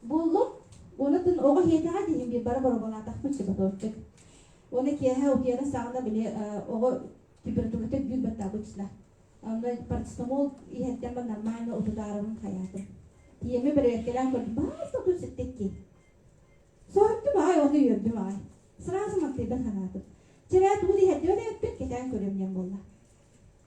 Буоллу. Уонатын оҕо иһиэтэҕэ диһин биир бара боробалаатахпыт сепатовчик. Уонна киэһэ утуйара саҕана били оҕо температурата биир баттаабытсына. Онно парацетамол иһэрдэн ба нормально утутаарабын хаyaатым. Тиеми бэрэбэткэлээн көрдüm, баас отут ситтикки. Соһуттум аай, ону үөрдүм аай. Сразу мактыйдан ханаатым. Чэрээ тугу иһэрдибэт эппит, кэтээн көрүөм диэн буолла.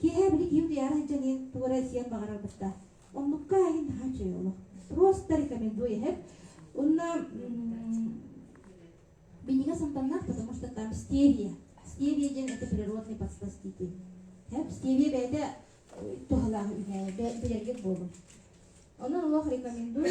Киэһэ били киһи утуйаары сылдьан иһин тугу эрэ сиэн баҕарар буста. Оннукка иһин наһаа үчүгэй олох. Просто рекомендую иһэр. Уонна бинига сантаннах, потому что там стевия. Стевия диэн это природный подсластитель. Стевия бэйэтэ туһалаах үһэ, билэргит буолун. Онон олох рекомендую.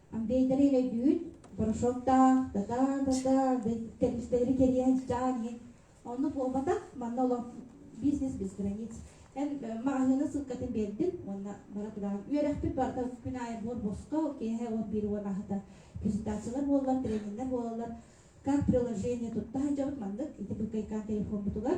Бэйдэрин өйдүүр, борошуоктаах, да-да-да-да, кэрдистэлэри кэрийэн сдьаан иһин. Ону буолбатах, манна олох бизнес без границ. Эн маҕаһыына ссылкатын биэрдин уонна бара тураан үөрэхпит барыта күн аайы буор босхо, киэһэ уон биир уон аһыта презентациялар буоллар, трениннэр буолаллар. Как приложение тутта сылдьабыт маннык ити кыйкаан телефоммутугар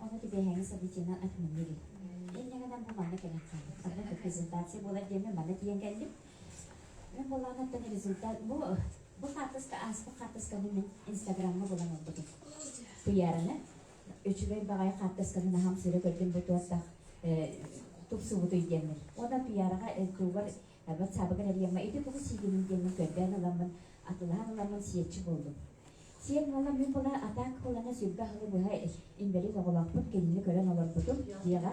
Ону түбэһээҥи событиенан атыынныыр эн яңадан бу маны кэлэн хаалбыт. Ханнык презентация буолар диэммин манна тиийэн кэллим. Мин булаанаттан результат бу бу хаартыска ааспыт хаартысканы мин инстаграмҥа булан ылбытым. Куйаараны үчүгэй баҕайы хаартысканы наһам сүрэ көрдүм бу туоттах тупсубутуй диэммин. Уонна Куйаараҕа ЛТУ-гар Арбат саабыгар эрийэмҥэ ити тугу сиигиниҥ диэҥҥин көрдөөн ыламмын, атылаан ыламмын сиэччи буоллум. Сиэн уола мин була атаак кылаҥа сүргэ аһылы быһа инбэлиит оҕолоохпун кинини көрөн олорбутум диэҕэ.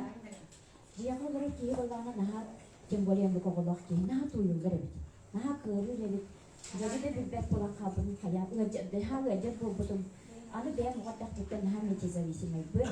Дьиэҕэ олорор киһи буоллаҕына наһаа тем более омук оҕолоох киһи наһаа туойуллар эбит. Наһаа кыарыыр эбит. Дьэри да билбэт буолан хаалбытым хайаан ыалдьар, наһаа ыалдьар буолбутум. Аны бэйэм оҕо эрдэхпиттэн наһаа метезависимайбын.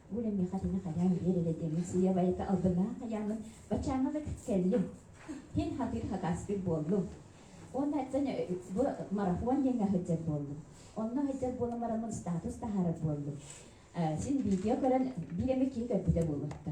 Ол миэхэ тыына хайаан биэрэрэ демисия байыта албынаах айаамын бачаанылык кэллим. Иһин хатыыр хакааспыт буоллум. Уонна бу марафон диэҥҥэ сылдьар буоллум. Онно сылдьар буоламмар статус таһаарар буоллум. Син видео көрөн биир эмэ киһи көрбүтэ буолуохта.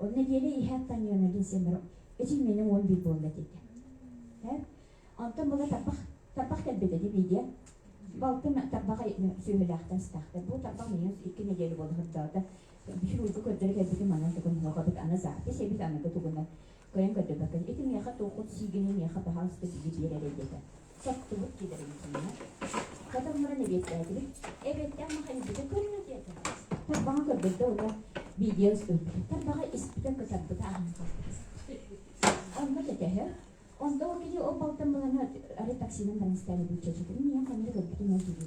Ол нэдиэлэ иһэ Антонина Венсемиров эчилмиэним уон биир буолла диэтэ. Онтон була тарбах тарбах кэлбитэ дии биидиэ. Балтым тарбах сүөһүлээхтэн истэхтэ. Бу тарбах миигин икки нэдиэлэ буола сырдаата. Бишрульга көрдөрө кэлбитим манан тугун һылҕабыт аны запись эбит аныгы тугунан көрөн көрдөбөккө ити миэхэ туоххут сиигинэй миэхэ таһаҕаста били биэрэрэ диэтэ. соттубут килэрин кэннэ, хатылларын эбиэттээтибит, эбиэттэн махайбыты көрүө диэтэ. Тарбаҕа көрдөрдө ута, биидиэ устуйбута. Тарбаҕа испитэ, кытарбыта аһыҥа хаалбыта. Онно кэтэһэр. Онто ол кини ол балтан буланы арай таксинан баран истээри булчачытын, ийэм ханна да көрбүтүн ол киһи.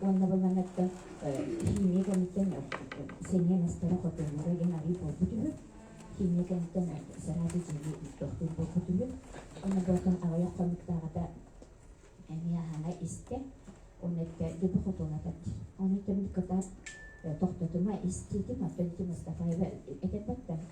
уонна булан эттэ химия кэнниттэн сэниэ мастара хотонура диэн арыый буолбут үһү химия кэнниттэн сараады дьиэ тохтуур буолбут үһү онно буортан аҕыйах хонуктааҕата эмиэ аһара истэ уонна эттэ дьоду хотуна тат ону кэмник кытаат тохтотума истиитим оттон Мустафаева этэ батта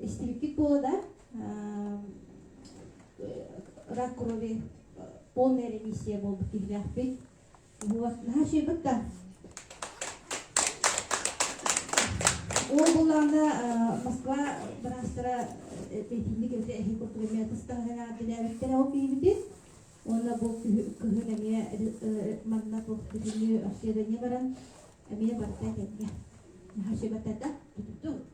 истибиккит буолада рак крови полная ремиссия болбут киһилээхпин наһаа шыйбыкта ол булаанда москва быраастара петинник эбите эһин куртугамия тыстаһына билээбиттэрэ ол киһибитин уонна бу кыһын эмиэ манна туох бүтүнү арсыада не баран эмиэ барта кэнгэ наһаа шыйбаттарда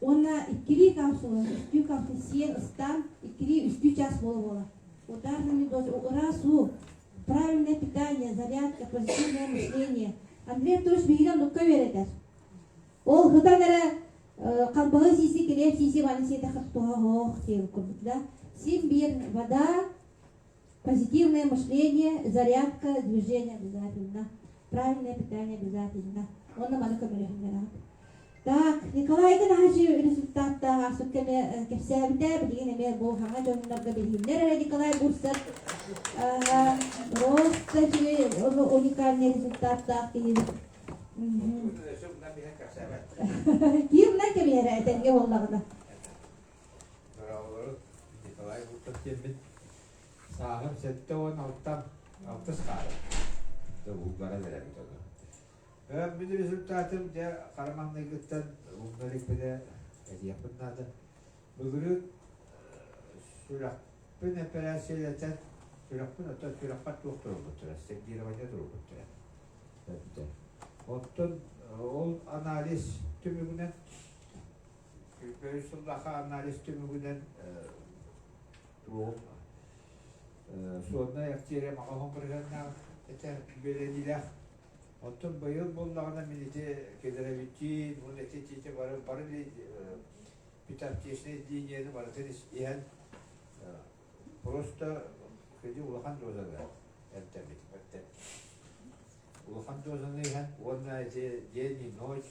Уонна иккилии капсула, үстүү капсул ыстаан, иккилии үстүү час буола буола. Ударный медоз, раз-у, правильное питание, зарядка, позитивное мышление. Андрей Анатольевич биһигинэн нукка үөрэтэр. Ол хытан эрэ хамбаһы сиси, килиэп сиси, ванни сиэтэхэ туһа оһох диэн курдук да. Сим биир вода, Позитивное мышление, зарядка, движение обязательно, правильное питание обязательно. Онно маны көмөлөһүннэрэҕит. Так, Николайга наһажы результаттаах ааспыт кэми кэпсээбитэ, билигин эмиэ бу хаҥа дьоннорго билиһиннэр эрэ Николай Бурсов просто уникальный результаттаах киһи. Ким да кэмиэрэ этэргэ буоллаҕына. Быраалары Николай Гуртов диэммит сааһым сэттэ уон алта алтыс хаары да булгара бэрэмит ону. Бэм мин результатым дьэ хараманныгыттан булгар икпинэ этиэхпин наада. Былыры сүрэхпин операциялатан сүрэхпин оттон сүрэхпэр туох турбуттара, сергирование турбуттара. Оттон ол анализ түмүгүнэн Көрүс сыллаха анализ түмүгүнэн суоднай актиерия маҕаһын бырыһаннаах этэ бэлэнилэх Оттон быйыл буллаҕына мин ити федеравитин, мун эти тиите бары бары питаптичнай линияны барытын иһэн просто кыди улахан дозаны эртэмит улахан дозаны иһэн уонна эти день и ночь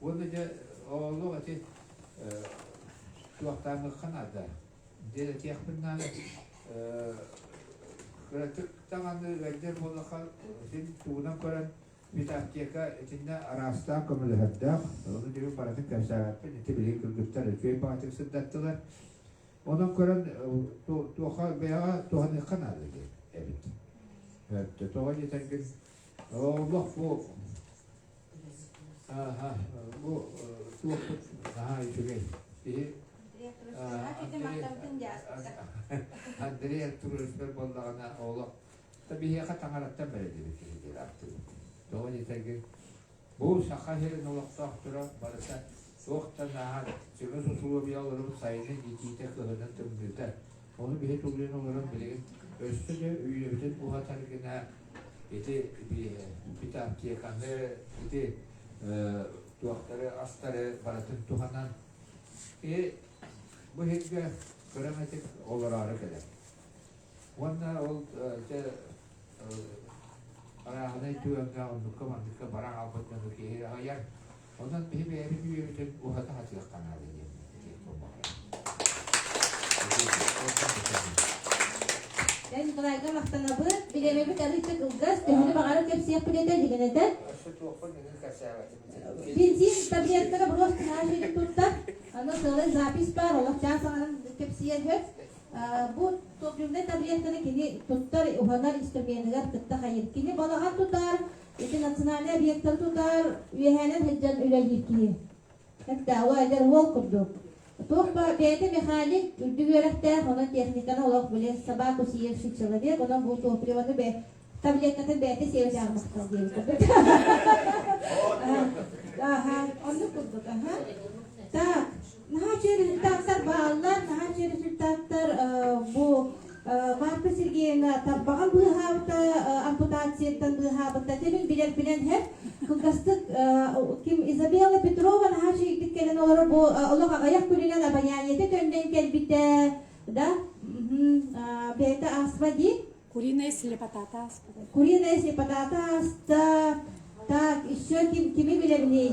Уонна дьэ олох ити туохтааҥҥыкка наада диэн этиэхпин наада кыратык даҕаны ыалдьар буоллахха син тугунан көрөн Витаптека итиннэ араастаах көмөлөһөрдөөх ону дьиҥин барытын кэпсээбэппин ити билиги кыргыттар үчүгэй баҕатык сырдаттылар онон көрөн туоха бэйэҕэ туһаныахха наада диэн эбит тоҕо диэтэргин олох бу бу туох наһаа үчүгэй киһи Андрея туруспер боллаҕына олох та биһиэхэ таҥараттан бэрэлибит киһи диир аттыбыт тоҕо дитэрги бу саха сирин олохтоохторо барыта Суох да наар, сүрүн усулуобуйаларым сайын иитиитэ кыһынын тымныыта. Ону биһи тулуйан олорон билигин өссө да үйэбитин уһатар гына ити ити аптеканы ити туохтары астары барытын туһанан и бу иһиргэ кыраҕытык олороору кэлэр. Уонна ол дьэ арааһынай түгэҥҥэ оннукка манныкка бара хаалбыт дьону киһи аҕыйар Онон биһи бэйэбит үөрүүтүн уһата сатыахха наада диэн этии кылбаһыйа. Ордук да сөбүлүүр. Эн Брайга махтанабыт, билиэбэбит арыытык ылгас, төһөнү баҕара кэпсиэхпит этэ илигин этэн. Бензин, таблеткаҕа брост нааш edip tuttар. Аны сылай запись бар, олохчаан саҥанан кэпсиэн сөп. Бу топ таблетканы кини туттар, уһанар инструменыгар кытта хайыр. Кини балаҕан тутар, Ити национальнай объектары тутар, үөһээнэн сылдьан үлэлиир киһи. Кэттээҕи эдэр уол курдук. Туох баар бэйэтэ механик, үрдүк үөрэхтээх, онон техниканы олох билэр, собаку сиэщий человек, онон бу топливаны бэйэ таблеткатын бэйэтэ сиэбэтээҕи махтал диэбит курдук. Аха, оннук курдук, аха. Так, Наһаа сүрдээхтэр бааллар, наһаа сүрдээхтэр бу Марта Сергеевна тарбаҕа быыһаабыта, ампутацияттан быыһаабыта. Дьэбин билэрбинэн һэр кылгастык ким Изабелла Петрова наһаа үчүгэйдик кэлэн олорор бу олох аҕыйах күнүнэн абонянията төннөн кэлбитэ, да бэйэтэ ааспа дии. Куриная слепотата ааспыта. Куриная слепотата ааста. Так, еще ким кими билэрний?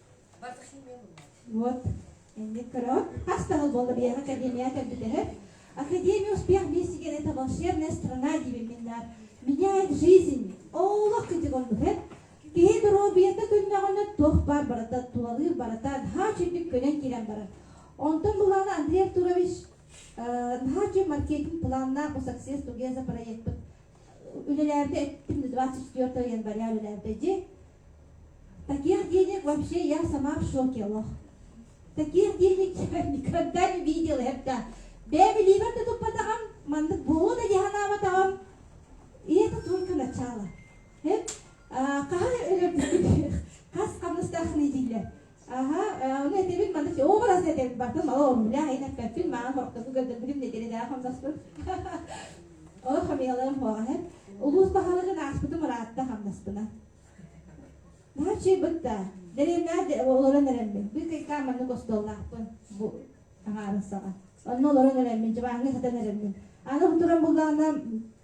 Вот, инник көрөт. Хас таһыл буолла биһиэхэ академия кэлбит эһэр. Академия успех вместе говорит это волшебная страна, диибин мин наар. Меняет жизнь. Олох кыдьык ордуһет. Киһи доруобуйата күннэҕинэ туох баар барата, тулалыыр барата, наһаа чимник көнөн киирэн барар. Онтон былаана Андрей Артурович наһаа үчүн маркетинг планнаах bu success together проектпыт үлэлээбитэ эттим 24 айан барыа үлэлээбитэ дии. Таких денег вообще я сама в шоке, лох. Таких денег я никогда не видела. Это бэби ливер да туппатаҕам, маннык буолуо да дьаһанаабатаҕым. И это только начало. Хас хамнастаахын дииллэр. Аха, ону этэбин манна оо раз этэн бартын мала ормуля эн эппэппин маан хорохтоку көрдөрбүтүм нэдиэлэдээх хамсаспын. Олох хамыйаларым хоҕаһын. Улуус баһылыгын ааспытым ыраатта хамнаспына. Наачи бытта, деревнär олорон эрэммин, бу кайкаан маннык остуоллаахпын бу аҥаарыссаҕа. Онно олорон эрэммин, дьыбааҥҥа сатан эрэммин. Аны туран буллаҕына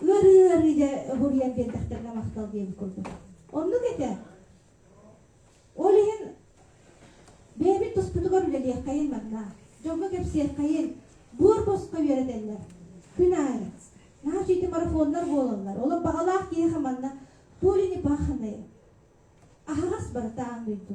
Ыарыы-ыарыыга буруйан биэрдэхтэринэ махтал диэбит курдук. Оннук этэ. Ол иһин бэйэбит туспутугар үлэлиэххэйин манна, дьоҥҥо кэпсиэххэйин, буор босхо үөрэтэллэр. Күн аайы. Наһаа үчүгэй марафоннар буолаллар. Олох баҕалаах киһиэхэ манна Туле Непаханное. Аһаҕас барыта аан дойду.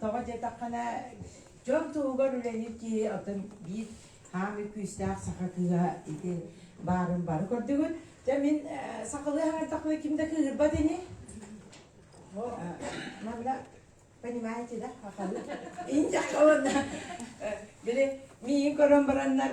тоҕо диэтэххинэ дьон туһугар үлэлиир киһи отон биир хаамыы күүстээх саха кыыһа ити баарын бары көрдүгүт. Дьэ мин сахалыы хаҥырдахпына ким да кыыһырбат ини. Манна понимаете да сахалыы. Инде он били миин көрөн бараннар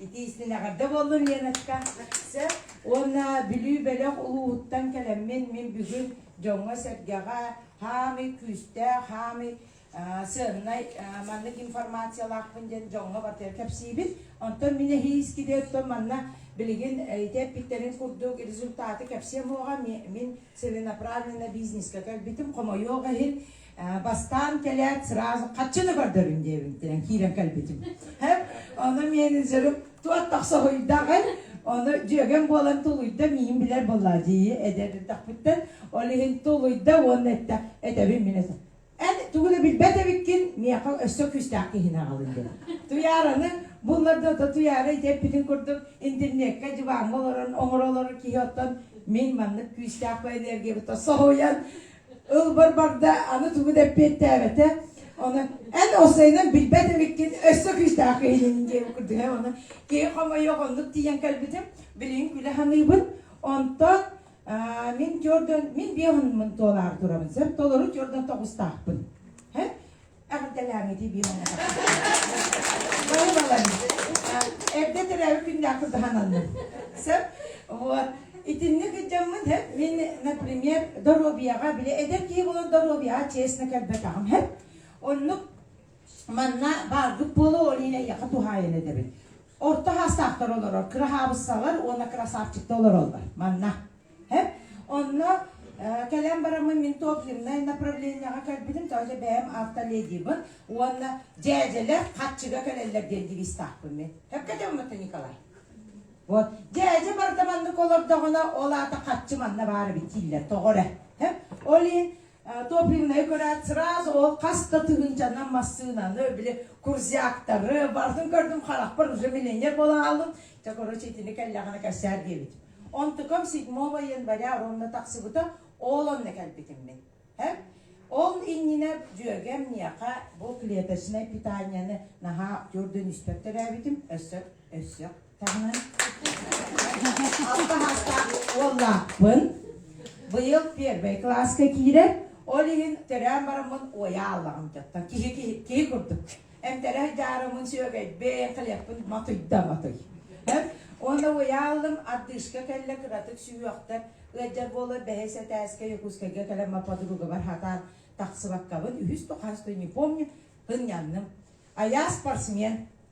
Ити истин эҕэрдэ буоллун, Леночка! Сөп. Уонна Бүлүү бөлөх улууһуттан кэлэммин, мин бүгүн дьоҥҥо-сэргэҕэ хаамый күүстээх, хаамый сыаннай маннык информациялаахпын диэн дьоҥҥо барытыгар кэпсиибит. Онтон мин эһии искиди оттон манна билигин ити эппиттэрин курдук результаты кэпсиэм уоҕа, мин целенаправленнай бизнескэ кэлбитим, хомойуох иһин, бастаан кэлээт сразу хаччы да көрдөрүн диэбин диэн киирэн кэлбитим ону миэнин сөрүк туот тахсаһуйдаҕын ону дьүөгэм буолан тулуйда миин билэр буолла дии эдэр эрдэхпиттэн ол иһин тулуйда уонна эттэ этэбин мин этэ эн тугу да билбэт эбиккин миэхэ өссө күүстээх киһини аҕалын диэн туйаараны булларда да туйаара итиэппитин курдук интернекка дьыбааҥҥа олорон оҥоро олорор киһи оттон мин маннык күүстээх по энергиябыттан соһуйан Ылбар барда, аны тугу да эппиэттээбэтэ. Она эн осайынан билбэт эмиккин өссө күүстээх иһинин диэн курдуга она киһи хомойох оннук тиийэн кэлбитим билигин күлэ саныыбын онтон мин көрдөн мин биэ ханымын туолаары турабын сөп толору көрдөн тоҕустаахпын Эрдэ төрөөбүт күннээх кырдаһананным. Сөп? Вот. Итинник ытжаммын хэп, мин, например, доруобияҕа, били эдэр киһи болон доруобияҕа честно кэлбэтэҕим хэп. Оннук манна бааргыт буолу олиин эйэхэ туһаайан эдэбит. Орто хаастаахтар олорор, кыраһаабыссалар уонна красавчикта олороллор. Манна. Онно кэлэн бараммын мин топ-земнай направлениеҕа кэлбитим, тоҕо бэйэм автоледибын уонна дьээдьэлэр хаччыга кэлэллэр диэн девизтаахпын мин. Сөпкө дьоммуту Николай. Вот. Дьээдьэ барда маннык олордоҕуна, ол аата хаччы манна баара бит дииллэр, тоҕо эрэ. Ол иһин топливнайы көрөөт сразу ол хас да тыһыынчанан массыынаны били курзяктары барытын көрдүм харахпар уже миллионер буола хааллым чэ короче итини кэллэҕинэ кэпсээр диэбит онтукам седьмого января уонна тахсыбыта ол онно кэлбитим мин һэ ол иннинэ дьүөгэм миэхэ бу клеточнай питанияны наһаа төрдөн үстэр төрөөбүтүм өссө өссө Уоллаахпын. Быйыл первый класска киирэр, ол иһин төрөөн бараммын уойа ааллаҕым дьаттан киһи киһи киһи курдук. Эмтэрэ дьаарымын сүөгэйбин, хлебпын матыйда матый. Уонна уойа ааллым, ардыышка кэллэ кыратык сүһүөхтэр, ыалдьар буола бэһис этээскэ Якутскайга кэлэн ма подругабар хатаан тахсыбаккабын үһүс-тоҕаас да не помню, һынньанным. Айаа спортсмен,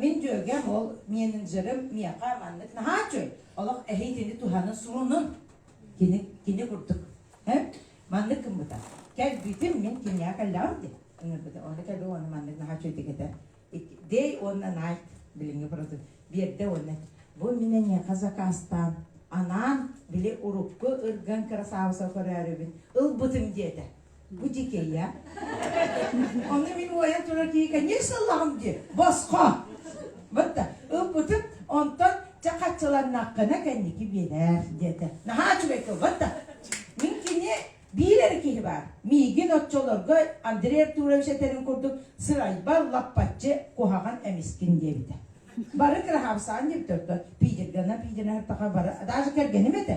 Мин дьүөгэм ол менеджерим миэхэ маннык наһаа үчүгэй. Олох эһиитини туһаны сурунун. Кини, кини курдук. Һэ? Маннык гыммыта. Кэлбитим мин киниэхэ кэллэҕим дии. Ону кэлби уонна маннык наһаа үчүгэй этэ. Day уонна night билиҥҥи продукт. Биэрдэ уонна бу мин эйиэхэ закаастаан анаан били урукку ырган кырасаабыса көрөөрүбүн ылбытым диэтэ. бу дикея ону мин уойан турар дии конечно ыллаҕым дии босхо вот так ылбытын онтон чэ хаччыланнаххына кэнники биэрэр диэтэ наһаа үчүгэй тыл вот так мин кини биир эрэ киһи баар миигин оччолорго Андрей Артурович этэрин курдук сырайбар лаппаччы куһаҕан эмискин диэбитэ бары кыраһаабсаан диэбитэ пиидиргана пиидиргана бары даже кэргэним этэ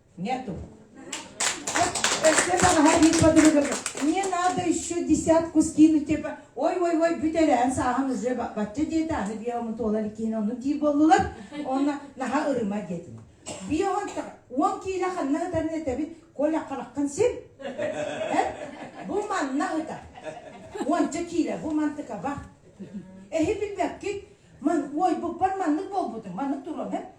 Нету. Мне надо еще десятку скинуть. Ой-ой-ой бүтэрэн сааһын уже бачча диэтэ аны биому туолар киһин ону диир боллулар онна наха ырыма диэтин. Биоһон уон киилэ ханна ытарын этэбит Коля хараккын син бу манна ыта уонча киилэ бу мантыка ба эһи билбэккит ман ой буппар маннык болбутун маннык турон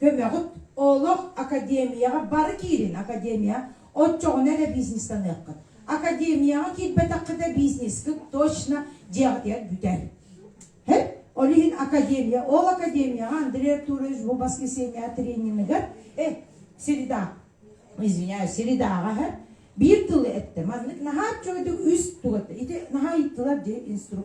Көмөҕүт олох академияҕа бары киирин, академия оччоҕуна эрэ бизнес саныаххыт. Академияҕа киирбэтэххитэ бизнескыт точно дьиэҕитигэр бүтэр. Ол иһин академия, ол академияҕа Андрей Артурович бу воскресенье трениныгар, э, среда, извиняюсь, средаҕа биир тылы эттэ. Маннык наһаа үчүгэйдик үс тугатта. Ити наһаа ыйыттылар дии инстру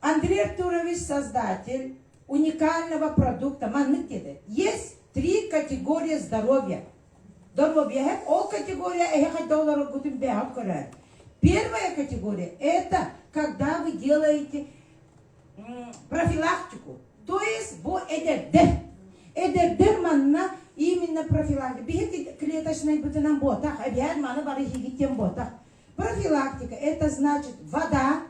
Андрей Артурович создатель уникального продукта. Маннык диэтэ. Есть три категории здоровья. Здоровье. Ол категория эһиэхэ да олороргутун бэйэҕит көрөөн. Первая категория – это когда вы делаете профилактику. То есть бу эдэрдэр. Эдэрдэр манна именно профилактика. Биһиги клеточнай бытынан буотах, эбээн маны бары иһигиттен буотах. Профилактика – это значит вода,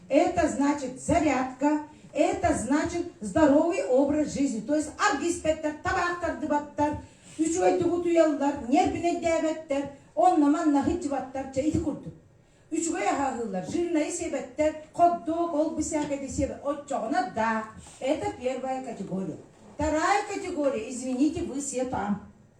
это значит зарядка, это значит здоровый образ жизни. То есть аргиспектер табаах тардыбаттар, үчүгэйдүгүт уйаллар, нервинейдээбэттэр, онна-манна хытчыбаттар, чэ ити курдук. Үчүгэй аһаһыылар, жирнайы себэттэр, хот-дог, ол бисээкэди себэ, оччоҕуна да. Это первая категория. Вторая категория, извините, вы все там.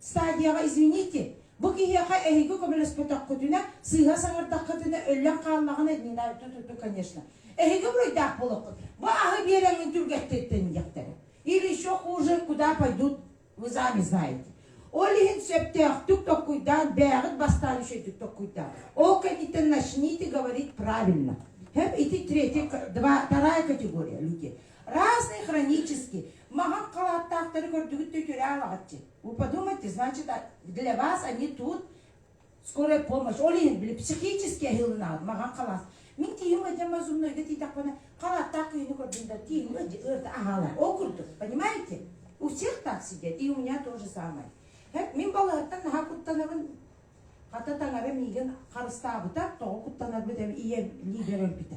Стадияҕа извините, бу киһиэхэ эһиги көмөлөспөтөххүтүнэ, сыыһа саҥардаххытына өллөн хааллаҕына дневная ту-ту-ту, конечно. Эһиги буруйдаах буолуоххут. Бу аһы биэрэҥҥин түргэттэттэн диэхтэрэ. Или еще хуже, куда пойдут, вы сами знаете. Ол иһин сөптөөхтүк толкуйдаан, бээҕин бастаан үчэйдик толкуйдаан. Ол кэнниттэн начните говорить правильно. Һэм ити третья, два, вторая категория люди. Разные хронически. Маҕан халааттаахтары көрдүгүттүү түөрэ аалаҕытчы. Вы подумайте, значит, для вас они тут скорая помощь. Ол иһин били психический аһыылынаҕыт маҕан халаас. Мин тиийим ыдьам азумнойга тиийдэхпинэ халааттаах киһини көрдүм да тиийим ыйда аһаалар. Ол курдук, понимаете? У всех так сидят, и у меня то же самое. Мин балаһаттан наһаа куттанабын хата таҥара миигин харыстаабыта, тоҕо куттанарбыт ийэм лиидэрэмпитэ.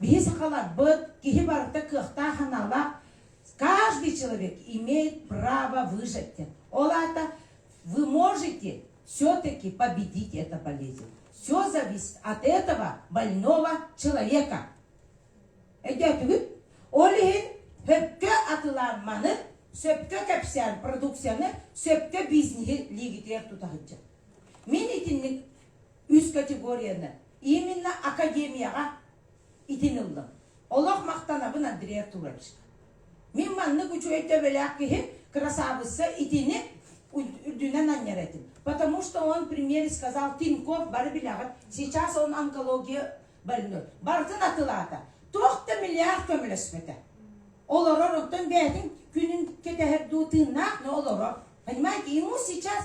Биһи сахаларбыт, киһи барыта кыахтаах-аналлаах, каждый человек имеет право выжить. Ол аата вы можете все-таки победить эту болезнь. Все зависит от этого больного человека. Өйдөөтүгүт? Ол иһин сөпкө атылаан маны, сөпкө кэпсээн продукцияны, сөпкө бизнеһи лигитиэх тутаһыдьа. Мин итинник үс категорияны именно академияҕа итин ыллым. Олох махтанабын Андрея Туровичка. Мин маннык үчүгэй төбөлөөх киһи красавыца итини үрдүнэн анньар этим. Потому что он в примере сказал Тиньков бары билэҕит, сейчас он онкология больной. Барытын атылаата. Туох да миллиард көмөлөспөтө. Олорор оттон бээтин күнүн кэтэһэр дуу тыыннаах но олорор. Понимаете, ему сейчас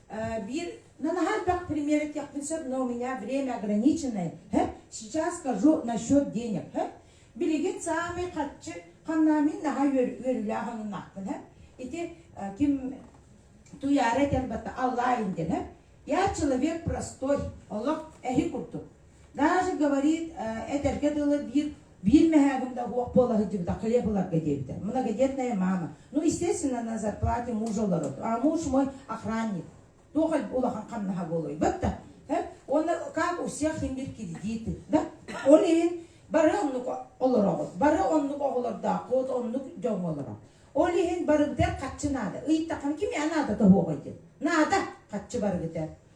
Биир, ну, наһаа элбэх пример этиэхпин сөп, но у меня время ограниченное. Сейчас скажу насчет денег. Билигин саамай харчы ханнаамин наһаа үөрүүлээх аннаахпын. Ити ким туяра этэрбата аллаа инден. Я человек простой, олох эһи курдук. Даже говорит, этэргэ дылы биир биир мэһээгим да уох буола сылдьыбытахха ебыларга диэбитэ. Многодетная мама. Ну, естественно, на зарплате мужа олорот. А муж мой охранник. Туохай улахан хамнаха буолуй. Батта. Он как у всех им бир кредиты. Да? Он иһин бары оннук олороҕут. Бары оннук оҕолордоох, от оннук дьон олорох. Ол иһин барыбытар хаччы наада. Ыйыттаххын ким я наада тоһуоҕай диэн. Наада хаччы барыбытар.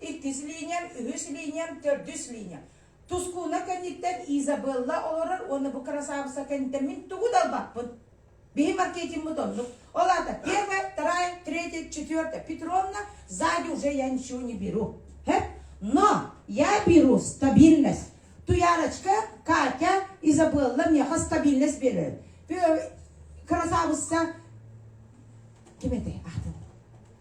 иккис линиям, үһүс линиям, төрдүс линиям. Тускууна кэнниттэн Изабелла олорор уонна бу кырасаабыса кэнниттэн мин тугу да ылбаппын. Биһи маркетиммыт оннук. Ол аата первая, вторая, третья, четвертая Петровна, сзади уже я ничего не беру. Һэ? Но я беру стабильность. Туярочка, Катя, Изабелла мне стабильность берет. Красавица. Ким это? Ахтын.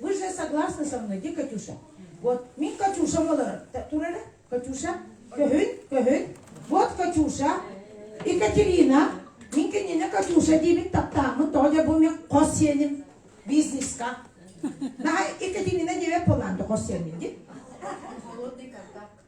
Вы же согласны со мной, где Катюша? Вот, мин Катюшам олорор. Тур эрэ. Катюша, көһүн, көһүн. Вот Катюша. Екатерина, мин кинини Катюша диибин таптааммын, тоҕо дьэ бу мен хос сиэним бизнеска. Наһаа Екатерина диэбэт буолаан хос сиэним дии. Холодный контакт.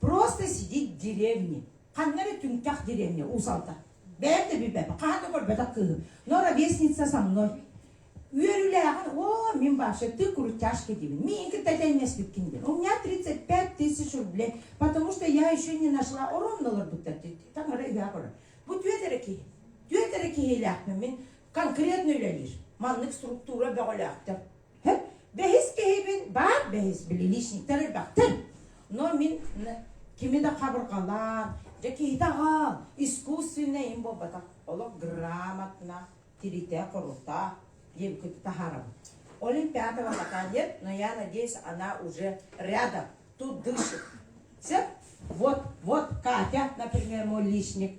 просто сидеть в деревне ханна эрэ түҥкэх деревня уусалта бэйэм да билбэппин хаһан да көрбөтөх кыыһым но ровесница со мной үөрүүлээҕин о мин вообще ты крутяшка диибин мин кытта тэҥнэспиккин диэн у меня тридцать пять тысяч рублей потому что я еще не нашла ороннуларбыттар таҥара ыһаа көрөр бу түөт эрэ киһи түөт эрэ киһилээхпин мин конкретно үлэлиир маннык структура бөҕөлөөхтөр Бэһис киһибин баар бэһис билиличниктэр элбэхтэр. Но мин кими да хабырҕалаан, дьэ киһитэ аҕаан искусственнай им буолбатах олох грамотно тиритэ круто диэбиккит таһаарабын. Олимпиадова пока нет, но я надеюсь, она уже рядом, тут дышит. Все? Вот, вот Катя, например, мой личник,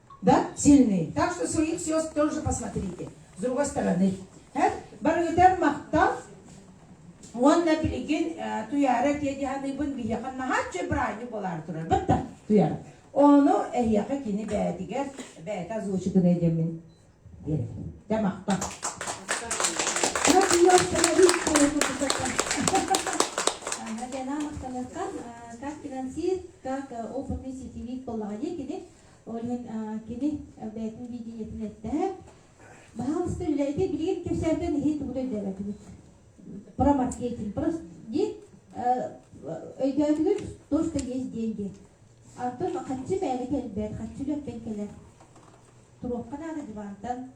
да, сильный. Так что своих звезд тоже посмотрите с другой стороны. Барыытар махтал уонна билигин туяра тиэдиһаныбын биһиэхэ наһааччы брані болар турар бытта туяра ону эһиэхэ кини бээтигэр бээтэ озвучканы эдэмин дэ махта Надо ее остановить, Для махталыттан как финансист, как Open Music TV коллаҕа диэкини Олен кини бэйэтин видениетин эттэ. Баһаамаста үлэлэргэ билигин кэпсээнтэн иһи тугута өйдөөбөтүгүт? Про маркетинг, про диэн өйдөөтүгүт, то, что есть деньги. Антон хаччы бэйэни кэлбэт, хаччы үлэттэн кэлэр. Туруохха наада дивантан,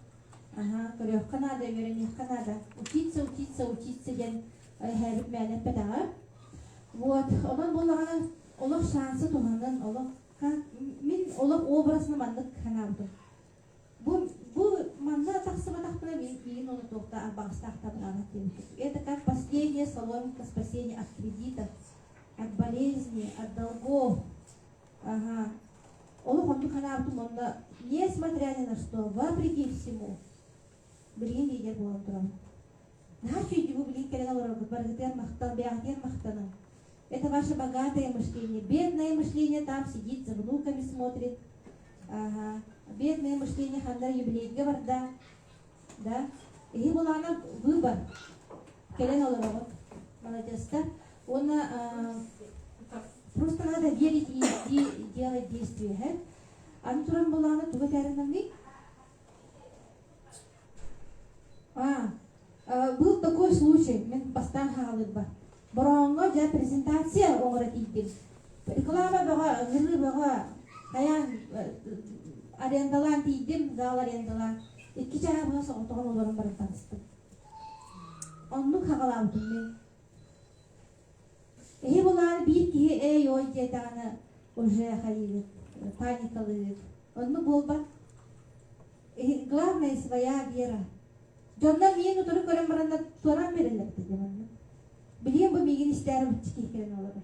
аха, көрүөххэ наада, үөрэниэххэ наада. Учиться, учиться, учиться диэн эһээбит мээнэ эппэтэҕэ. Вот, онон буоллаҕына олох шансы туһанан, олох Мин олох образны маннык санаабытым. Бу, бу манна тахсыбатахпына миигин ону туохта абаҕастаахтабытаана диэбитим. Это как последнее соломинка спасения от кредитов, от болезни, от долгов. Ага. Олох оннук санаабытым онно, несмотря ни на что, вопреки всему. Билигин лидер буолан турабын. Наһаа үчүгэйдик бу билигин кэлэн олорорбут барыгытыгар махтал, бэйэҕитигэр махтаным. это ваше богатое мышление. Бедное мышление там сидит, за внуками смотрит. Ага. Бедное мышление ханна юбилейге барда. Да? Иһи булаана выбор. Кэлэн олороҕут. Молодецтар. Уонна просто надо верить и делать действия. Аны туран булаана туга тәрініңі? был такой случай мен бастаан хаалырба бороонго дьэ презентация оҥоро тиийдим реклама бөҕө ыҥырыы бөҕө хайаан арендалаан тиийдим зал арендалаан икки чааһа быһа соҕотоҕун олорон баран таҕыстым оннук хаҕалаабытым мен Ийэ былаан биир киһи ээй-ой диэтэҕинэ уже хайыыгыт, паникалыыгыт. Онно буолбат. И- Главное своя вера. Дьоннор миигин утары көрөн бараннар туораан биэрэллэр этэ диэн манна. Билиэм бу миигин истээри бычча киһикирэн олорор.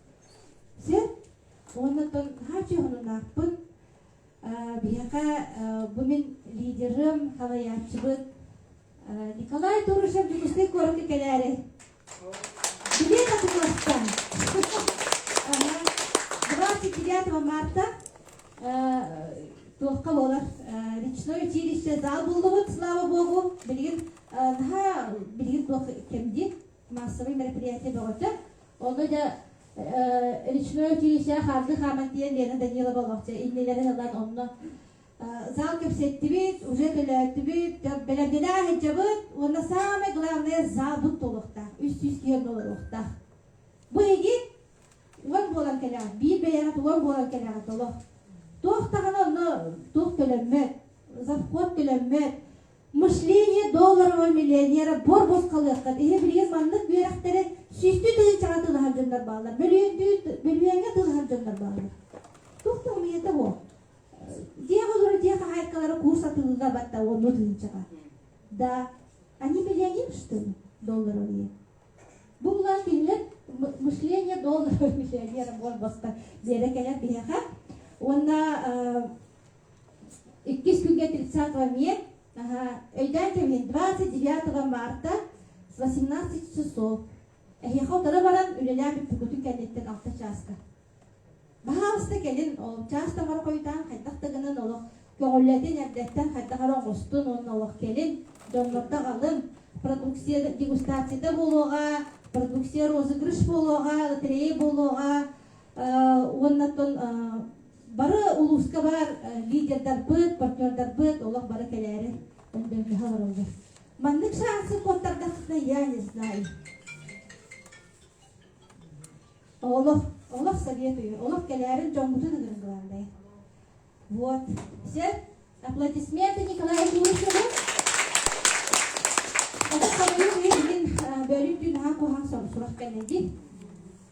Дьэ, уоннаттан наһаа чоһунунаахпын. Биһиэхэ бу мин лидерым, халайааччыбыт Николай Турышев Дьокуускай куоракка кэлээри. Билиэ татыкласта. Двадцать девятого марта туохха буолар речное училище зал буллубут слава богу билигин наһаа билигин туох кэмди массовый мероприятие бөҕөтө. Ону да речной училище харды хаман диэн Лена Данилова олохча иннилэрин ылан онно зал кэпсэттибит, уже көлөөттүбүт, бэлэрдэлээх иһдьабыт, уонна самое главное залбыт толуохтаах, үс сүүс киһи олоруохтаах. Бу игит уон буолан кэлэҕит, биир бэйэҕит уон буолан кэлэҕит олох. Туох даҕаны онно туох төлөммөт, завход төлөммөт, Мышление долларового миллионера буор босхолуоххат иһэ билигин маннык үөрэхтэри сүүстүү тыһыынча атыылаһар дьоннор бааллар бөлүһүөндүү тылаһар дьоннор бааллар туох да умуйата буо дьиэ олору дьиэ хаһаайкалара куурс атыылыыга батта онну тыһыынчаҕа да они миллионер что ли долларовые бу булан кинилэр мышление долларового миллионера буор бостор биэрэ кэлэр биһиэхэ уонна Иккис күнгэ 30 век, өйдөөн кэбиһин, 29 марта с 18 часов. Эһиэхэ утары баран үлэлээн бүппүккүтүн кэнниттэн 6 чааска. Баһаалыста кэлин чаас тамары хойутаан хайдах да гынан олох көҕүллэтин эрдэттэн хайдах эрэ оҥостун уонна олох кэлин дьоннорго аҕалын продукция дегустацията буолуоҕа продукция розыгрыш буолуоҕа лотерея буолуоҕа уонна тон Бары улууска баар лидердарбыт, партнердарбыт олох бары кэлээри өндөҥнөһө олороллор. Маннык шансы куоттардаххытына я не знаю. Олох, олох советую, олох кэлээрин дьоҥҥутун ыгырын былаандай. Вот. Все, аплодисменты Николаю Юрьевичу. Отут самыйын иһин бөлүн түн ахан куһаан сурах кэллэйдин.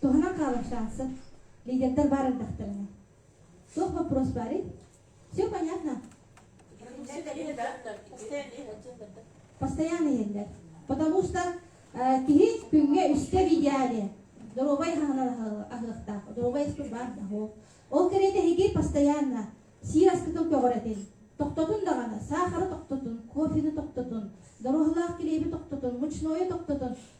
Туһанан хаалар шансым, лидердэр баар эрдэхтэринэ. Суох боппуруос баарый? Все понятно? Постоянно иһэллэр. Потому что киһи күҥҥэ үстэ в идеале доруобай аһынан аһыахтаах, доруобай эспит баар да ол. Ол кэриэтэ эһиги постоянно сиир аскытын көҕүрэтин, тохтотун даҕаны, саахары тохтотун, кофены тохтотун, доруоһалаах килиэби тохтотун, мучнойу тохтотун,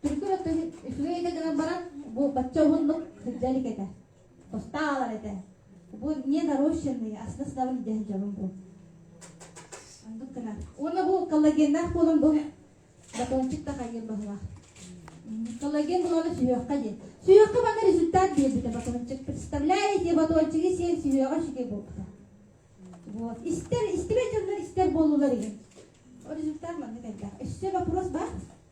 Түргө үчүгэйгэ гынан баран бу бачча уһуннук сылдьар этэ. Тостаалар этэ. Бу не нарощенные, а с наснабын дьэһэн дьонум бу. Андык гына. Уонна бу коллагеннаах буолан бу батончик да хайгын баһылах. Коллаген булана сүһүөххэ диэн. Сүһүөххэ бана результат биэрбитэ батончик. Представляете, те батончиги сиэн сүһүөҕэ шиге буолбута. Вот. Истэр, истибэт дьоннор истэр буолулар иһин. O результат маннык элбэх. Өссө вопрос бар?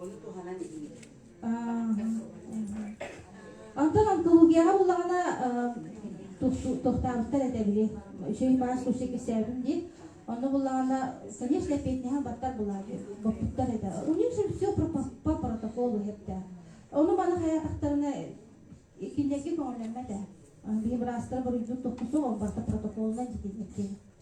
Ону туһанан иһиҥ. Онтон онкологияҕа буллаҕына тохтаабыттар этэ били үчүгэй баас тусу кистээтим диин онно буллаҕына конечно эппиэтинэһэн баттар булаат боппуттар этэ у них же все по протоколу хэптээх ону маны хаятахтарына кинилэрге көҥүллэммэт ээ биһи быраастара буруйдуун тохтусуох ол барта протоколунан дитиннэттиэн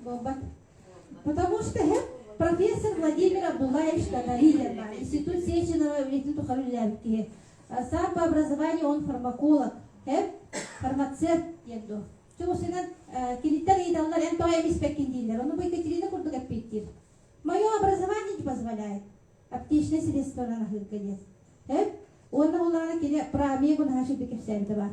Буолбат. Потому что профессор Владимир Абдуллаевич Татаридин бар. Институт Сеченова үлэтин тухары үлэлээбит киһи. Сам по образованию он фармаколог. Эп фармацевт диэн дуо? Чугусунан киниттэн ыйыталлар эн тоҕо эмиспэккин дииллэр. Ону бу Екатерина курдук эппиттиир. Мое образование не позволяет аптечное средство нараһыырга диэн. Эп уонна улаана кини про омегу наһашы кэпсээнтэ бар.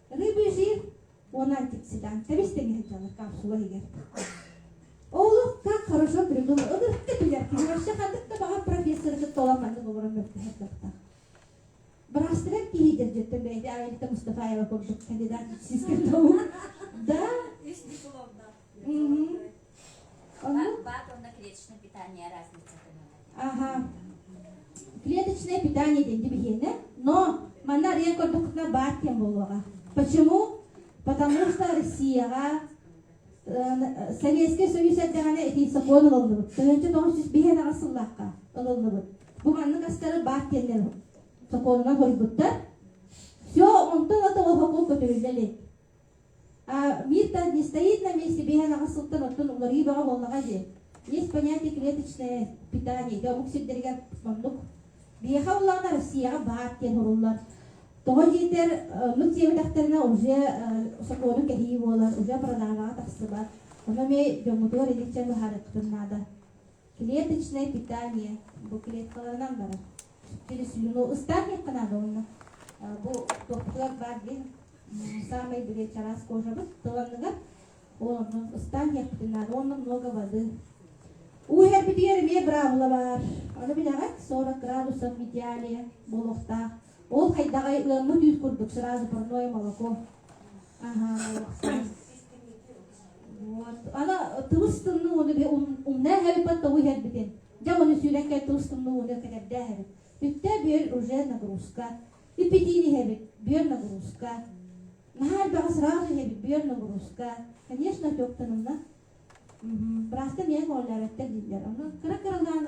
Ырыа бүөсүйэр уонан тикситэ. Тэбистэнгэ сылдьалар капсула иһигэр. Олохха хорошо придумал. Ытыртка билэр киһи вообще ханнык да баҕар профессоры кытта олох ханнык олорон мөлтөһөр дьахтар. Быраастыгар киһи дэрдьэттэн бэйэтэ Аэлита Мустафаева курдук кандидат сискэ тоһу. Да? Бак, бак онно клеточное питание разница ага. Клеточное питание дейді биһиэнэ, но манна арыйан көрдөххүтүнэ баар кем болуоҕа. Почему? Потому что Россияға э, Советский Союз эрдэҕинэ ити сокуон ылыллыбыт. Тыһынча тоҕус жүз биһэн аҕыс сыллаахха ылыллыбыт. Бу маннык астары баар киэннэр сокуонунан хоруйбуттар. Все, онтон ата оһоку көтүллэ илик. Вита не стоит на месте, биһэлэҕэ сылтан оттон уларыы бөҕө буоллаҕа дии. Есть понятие клеточное питание, дьэ омук сирдэригэр маннык. Биһиэхэ буоллаҕына Россияҕа баар диэн суруллар. Тоҕо диэтэр, оннук диэбэтэхтэринэ уже сокуону кэһии буолар, уже продажаҕа тахсыбат. Ону эмиэ дьоҥҥутугар илдьэн быһаарыаххытын наада. клеточное питание буклеткаларынан барар через устарниехха наада уонна бу тохтулар баар диэн саамай билиэ чараас кожабыт тыланныгар онно ыстаанньахпытын наада уонна много воды уу иһэрбитигэр эмиэ браабыла баар аны билэҕит сорок градусов в идеале буолуохтаах ол хайдаҕай ыаммыт үүт курдук сразу парное молоко ага Ана тылыстынны оны би умна хабиппат тобу хербитин. Дьа оны сүүрэн кай тылыстынны оны кэтэрдэ хабит. Үттэ бир уже нагрузка. Ипитини хабит, бир нагрузка. Нахар баха сразу хабит, бир нагрузка. Конечно, тёктанымна. Просто мен оляраттан дилер. Аны кыра-кыралаан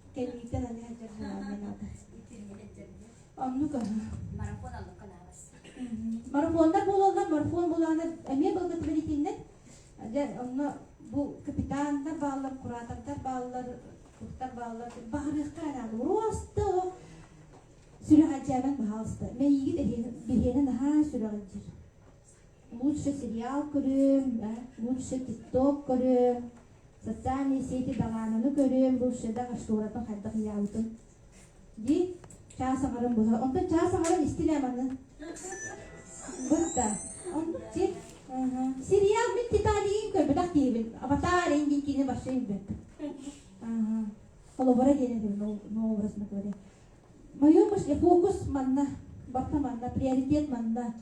кэлиитэ аны анаата оннук марафон аллыкка наабас марафондар буолаллар марафон булаанар эмиэ былгыт бэлитиннэр дьэ онно бу капитаннар бааллар куратордар бааллар туттар бааллар баарыахтар анаан уруосту сүрэҕэлдьээбэн баһаалыста мэйиигит биһиэнэ наһаа сүрэҕэлдьир лучший сериал көрүөм, да, лучший тикток көрүөм, социальные сети далаананы көрүөм, русшадағы шторатын хайдах иялытын. Ди час агарым быһа. Онда час агарын истилем аны. Бытта. Онда ти сериал мен Титаниин көрбөтөх диибин. Аватар индин кини башта инбет. Ага. Холобура диэнэтим новобраз на говоря. Моё фокус манна, барта манна, приоритет манна.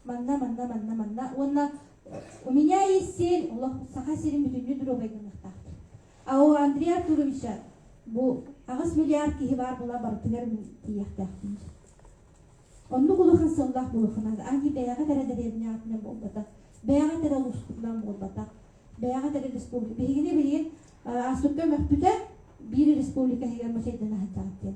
манна манна манна манна уонна у меня есть сель олох саха сирин бүтүннүү доруобайданыахтаахтар а у Андрей Артуровича бу аҕыс миллиард киһи баар була барытыгар мин тиийэхтээхпин оннук улахан сыллаах булухана ани бэйэҕит эрэ дэриэбинэ аатынан буолбатах бэйэҕит эрэ улууспутунан буолбатах бэйэҕит эрэ республика биһигини билигин аастыкка мөхпүтэ биир республика иһигэр мусейдана сылдьаҕыт диэн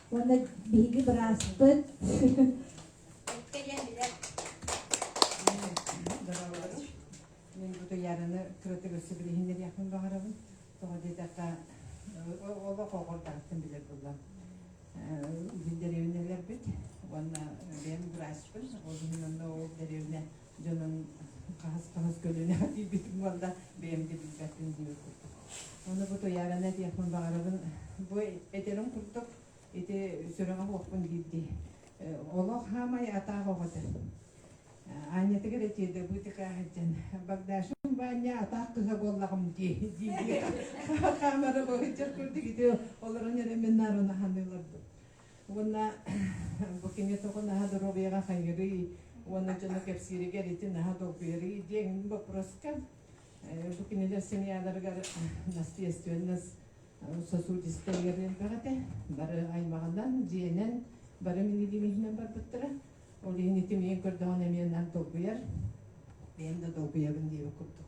Уонна биһиги быраастыт. Кэйэн билэр. Доҕорлорум, мен бу туяраны кырытык өссө билиһиннэриэхпин баҕарабын. Тоҕо диэтэххэ, олох оҕордартын билэр буллам. Деревнелербит, уонна бэйэм врачпын, ол иһин онно ол деревня дьонун хаһыс-хаһыс көлүөнэҕэ тиийбитим уонна бэйэм да билбэппин диир курдук. Ону бу туйаарана этиэхпин баҕарабын. Бу этерим курдук ити сүрэҕэ-буохпун биирдии. Олох хаамай атаах оҕото. Аанньатыгар этиэдэ бытыка сылдьан Багдашым Ваня атаах кыһа буоллаҕым дии дии хаамара быһычча курдук ити олорон эрэ мин нарына ханыыларбын. Уонна бу кими тоҕо наһаа доруобуйаҕа хайырый уонна дьону кэпсииригэр ити наһаа долгуйарый диэн боппуруоска бу кинилэр семьяларыгар наследственность сосудистайгар элбэҕитэ бары аймаҕынан дьиэнэн бары минигимиһинэн барбыттара ол иһин ити миин көрдөҕүнэ эмиэ наан долгуйар бэйэм да долгуйабын диэбит курдук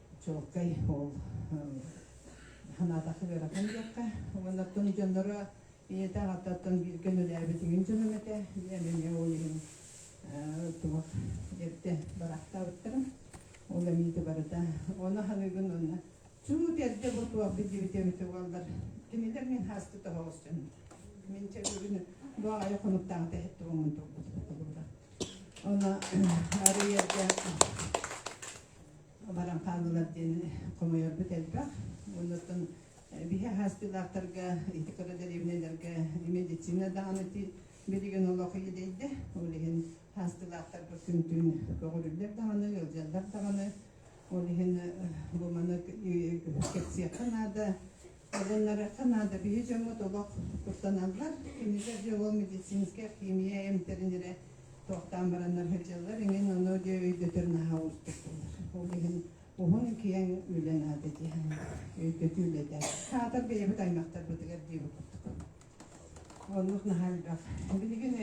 чуолкай ол санаатахха ыарахан диэххэ уоннаттан дьонноро ийэтэ аҕататтан бииргэ үлэлээбитиҥин дьонум этэ диэн эмиэ ол иһин туох эрдэ барахтаабыттарым ол эмиити барыта ону ханыгын уонна чуут эрдэ бу туох биллибит эбит уоллар кинилэр мин хаастыт оһоҕосчун мин чэгүгүн баҕайы хонуктаҕыта эттибиммин турбут быра она арыйарга баран хааллылар диэн хомойорбут элбэх. Оннуттан биһи хаастыылаахтарга, ити кыра дэриэбинэлэргэ медицина даҕаны билигин олох идэйдэ. Ол иһин хаастыылаахтарбыт күн-түүн көҕүрүллэр даҕаны, ыалдьаллар даҕаны. Ол иһин бу маны кэпсиэххэ наада. Ылынарыахха наада, биһи дьоммут олох куттаналлар, кинилэр дьоҕо медицинскэй, химия эмтэринирэ туохтаан бараннар сылдьаллар, иҥин ону диэ өйдөтөр наһаа уустук буолар. Ол иһин уһун-киэҥ үлэ наада дии санаабын. Өйдөтүү үлэтэ. Аатар бэйэбит аймахтарбытыгар диэбит курдук. Оннук наһаа элбэх. Билигин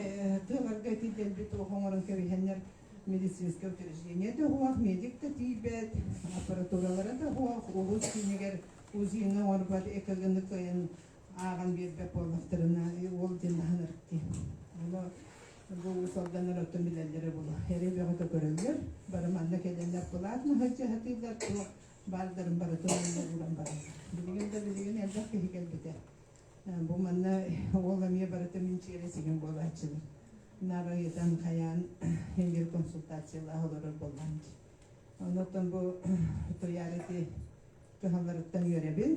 тыаларга ити дэлби туох оҥорон кэбиһэннэр медицинское учреждение да уһуох, медик да тиийбэт, аппаратуралара да уһуох, улуус киинигэр Кузина Орбат экогыны кыайан ааҕан биэрбэт буоллахтарына, уол диэн аһынарык дии. Ону бу уусалданар оттон билэллэрэ буолуо. Эрэ бөҕөтө көрөллөр, бары манна кэлэллэр, былаат маһыаччы аһатыыллар, туох баардарын барытын ылла ууран бараллар. Билигин да билигин элбэх киһи кэлбитэ. Бу манна уол эмиэ барыта минчиэрэ сигин буолааччылар. Наар ыйытан хайаан эҥир консультациялаах олорор буоллаҥ дии. Онуттан бу туйаар ити кыһалларыттан үөрэбин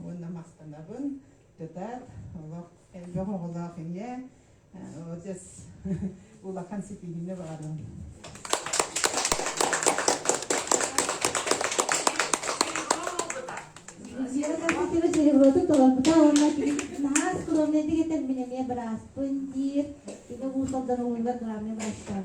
уонна махтанабын тутаат олох элбэх оҕолоох ийэ отец улахан ситиһиини баҕарабын Кира Черемоду толорбута уонна наһаа скромнай дигэтэн мин эмиэ бырааспын диир ити уусалдан угуллар главный врачтан